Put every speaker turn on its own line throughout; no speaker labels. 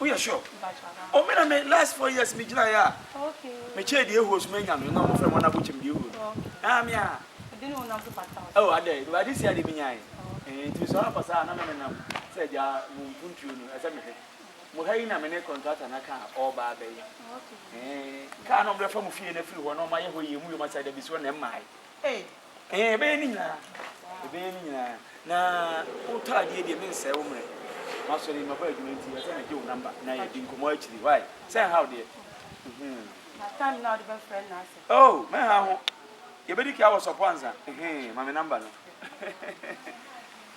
Woyɛ sure? O oh, me na me last four years me gyina ya. Me che die host me nya no na mo frɛ mo na bo chem die host. Ah me ah. Ade ne wonam so pata. Oh ade, no ade si ade me nya yi. Eh nti so apa saa na me ne nam sɛ gya mo mpuntuo no ɛsɛ me hwɛ. Mo ha yi na me ne contractor na ka all ba bɛ yi. Eh ka na mo bɛ fa mo fie na firi hɔ na mo ayɛ hɔ yie mu yɛ mo asɛ da bi so na mmaa yi. Ɛɛ, yɛbɛyɛ ne nyinaa, yɛbɛyɛ ne nyinaa. Na wotɔ adeɛ deɛ mensɛe wo mmerɛ. Masɔre maba adwuma nti ɛsɛ megye wo namba na yɛdi nkɔmmɔ akyiri. Why? Sɛ nhaw deɛ. Mhm. Na
time na wode bɛfrɛ no na sɛ. Oh, mɛha
ho. Yɛbɛdi ka wɔ sɔpo ansa. Ɛhɛn, ma me namba no.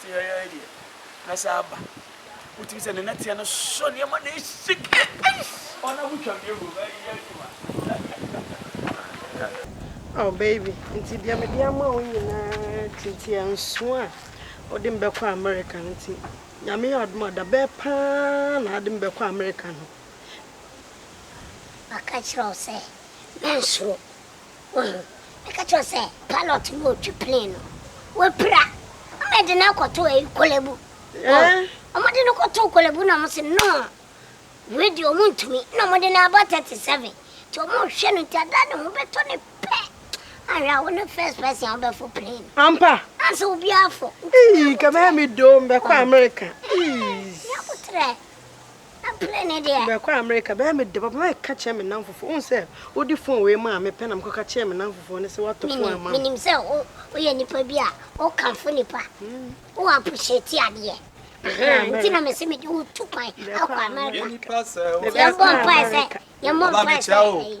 Teae deɛ na saa aba wotumi sɛ ne nateɛ no sɔ nneɛma na ɛhyike ɔna wotwa mmiɛ wɔ
ɛyɛ adwuma Oh baby, nti deɛ mede ama wo nyinaa ti nti ɛnso a wode me bɛkɔ America no nti nyame yɛ adom a da bɛɛ paa na ade me bɛkɔ America no.
Maka kyerɛ wo sɛ mensoro. Woahu? Meka kyerɛɛ wo sɛ pilot no retwe plane no, wapira. Wɔde no akɔto ɛyi Korle-Bu. Wɔn, wɔde no kɔtoo Korle-Bu na wɔn se no, wei deɛ wɔn ntumi. Na wɔde no aba 37. Nti wɔn rehwɛ no nti ada ne ho bɛtɔ no pɛ. Anhwɛ a wone first person a wobɛfo plane no. Ampa? Ansa obiara afo. Ii, nka mɛyɛ me
doo, mɛkɔ America. Ii. Nea wotrɛ.
Apene ne deɛ. Bɛkɔ Amerika bɛyɛ me
dɛ papa mɛ ka kyerɛ me namfo foɔ wohu sɛ wode phone wei maa me pɛ na mekɔ ka kyerɛ me namfo foɔ no sɛ watɔ phone ama me. Menim sɛ wo
woyɛ nipa bi a wo kamfo nipa wo appreciate adeɛ ɛhɛn nti na mese mede wo tu kwan akɔ Amerika yɛn bɔ mpae sɛ yɛn bɔ mpae sɛ ɛyi.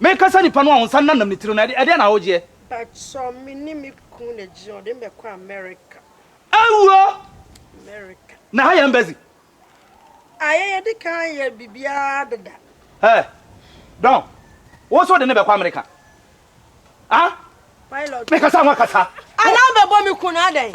Meka sɛ nipa no a ɔnsa nnanam ne tiri no, ɛdeɛn na wogyeɛ? Patsɔ me
ne me kun na gyina ɔde me bɛkɔ America. Awuo!
America.
Na ha yɛ embassy. Ayɛ yɛde kan yɛ biribiara deda. Hey!
Don, wo nso wode no bɛkɔ America? Ah! Pilot.
Meka sɛ woakasa.
Anaa wobɛbɔ me
kun adɛn?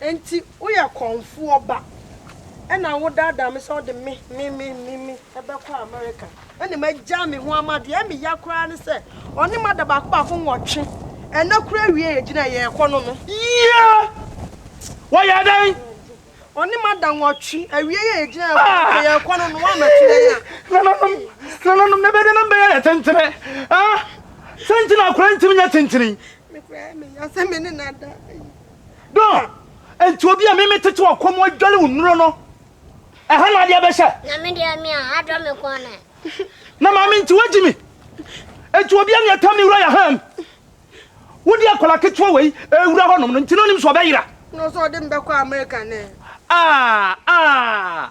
Enti woyɛ kɔmfoɔ ba na wodaadaa me sɛ wode me, me, me, me, me bɛkɔ Amerika na magyaa me ho ama deɛ me ya koraa ne sɛ ɔne mada baako baako nwɔtwe, ɛnnɛ koraa awie yɛgyina yɛrekɔ no no. Yea!
Wɔyɛɛ dɛn? Ɔne mada
nwɔtwe, awie yɛ yɛgyina yɛrekɔ no sɛ yɛrekɔ no no woammɛto yɛn a. Nananom, nananom, ne bɛdenom bɛyɛ yɛ
tentene, ah, sɛ nti na akora ntumi nyɛ tentene yi? Me kura yɛ
me ya sɛ me ne na da.
Dɔn, enti obi a mimi
tete
wɔ kɔm adwale wo nnuro no, ɛha na adeɛ bɛhyɛ. Na me deɛ me a adɔ
me kɔn na. Na maame
nti wagyi me. Enti obi a ne ɛtam ne wura yɛ ham. Wodi akwadaa ketewa wei ɛwura hɔnom no nti na onim sɛ ɔbɛyera. Na ɔsɛ ɔde me bɛkɔ
Amerika ne. Ah ah.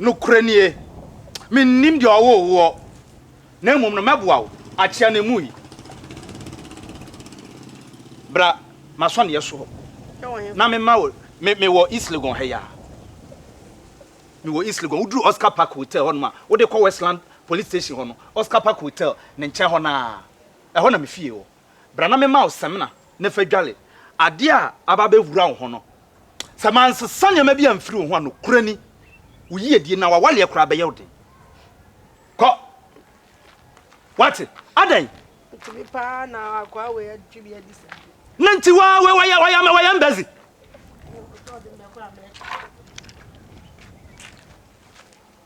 Nokorɛ nie, mennim deɛ ɔwoo woɔ, na mmom no mɛboa wo akyea no mu yi. Bra m'asɔneɛ soɔ na mema wo, me, mewɔ East Legon ha yi ara. Mewɔ East Legon, woduru Oscar Park Hotel hɔnom a, wode kɔ Westland Police Station hɔ no, Oscar Park Hotel ne nkyɛn hɔ no ara, ɛhɔ na me fie wɔ. Bra na memma wo samina na fa dware adeɛ a aba abɛwura wo ho no. Sɛ mansesa nneɛma bi amfiri wo ho a, nokorɛ ni, wo yiedie anaa w'awareɛ koraa bɛyɛ wo den. Kɔ! Woate? Adɛn? Ɛtumi paa
na akoa wei atwi bi adi saa. Ne nti waa
wei wayɛ wayɛ ama wayɛ mbɛzi.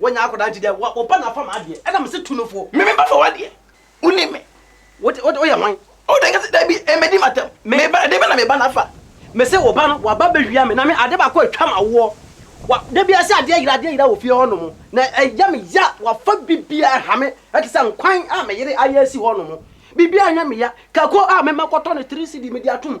Wanya akɔdaa
nti dɛ wo ba na afa m'adeɛ, ɛna mese tu no fo. Me me ba na ɔwɔ adeɛ,
wonim me. Wote, wote, woyɛ
hwan? Ɔwɔ dɛ nka sɛ dabi,
ɛmmɛdi m'atam. Me ba, ɛdeɛ bɛ na me ba no afa? Mese wo ba no,
waba bɛwia me, na me adeɛ baako a atwa m'awoɔ. Wa, da biara sɛ adeɛ yera, adeɛ yera wɔ fie hɔ nom, na ɛyɛ me ya, wafa biribiara ɛha me, ɛte sɛ nkwan a me yere ayɛ asi hɔ nom. Biribiara nyɛ me ya. Kako a mema kɔtɔ no three cedi mede atom.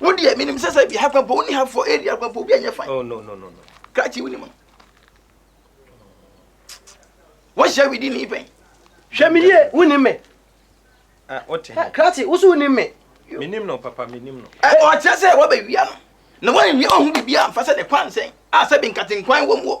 wo deɛ menim sɛ sɛ bi ha kwampɔ woni ha fɔ area kwampɔ obi anyɛ fan oh, no, no, no, no.
krakye woni ma
wohyɛ widi ne pɛn hwɛ me yie
woni me ah,
krakye wo so
woni me menim no papa
menim no ɔkyerɛ sɛ wɔbɛwia
no na wɔanwia ɔho biribi amfa sɛ ne kwan sɛn a sɛ bi nkatenkwan wɔ mu wɔ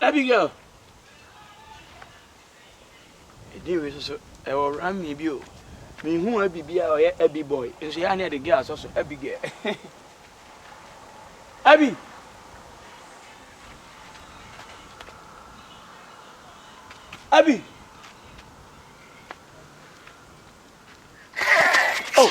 Abigail, Edin wei soso ɛwɔ rami bi o. Me hu abi bi a ɔyɛ abi boy. Nso ya ne ɛde girl asɔ so abi girl. Abi. Abi. Oh.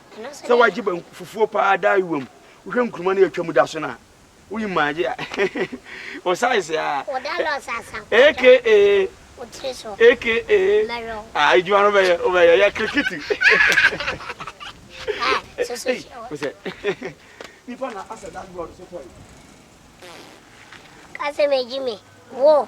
Sɛ w'agye banku fufuo paa daa ayewa mu, wohwɛ nkuruma no yɛtwa mu da so no a, woyi mu agye a, wo size a, aka, aka, ah, adwuma no bɛyɛ, wobɛyɛ, yɛ kirikiti. Wosɛ, nipa na asɛ dashboard so tɔe.
Kasɛ megye me, wo,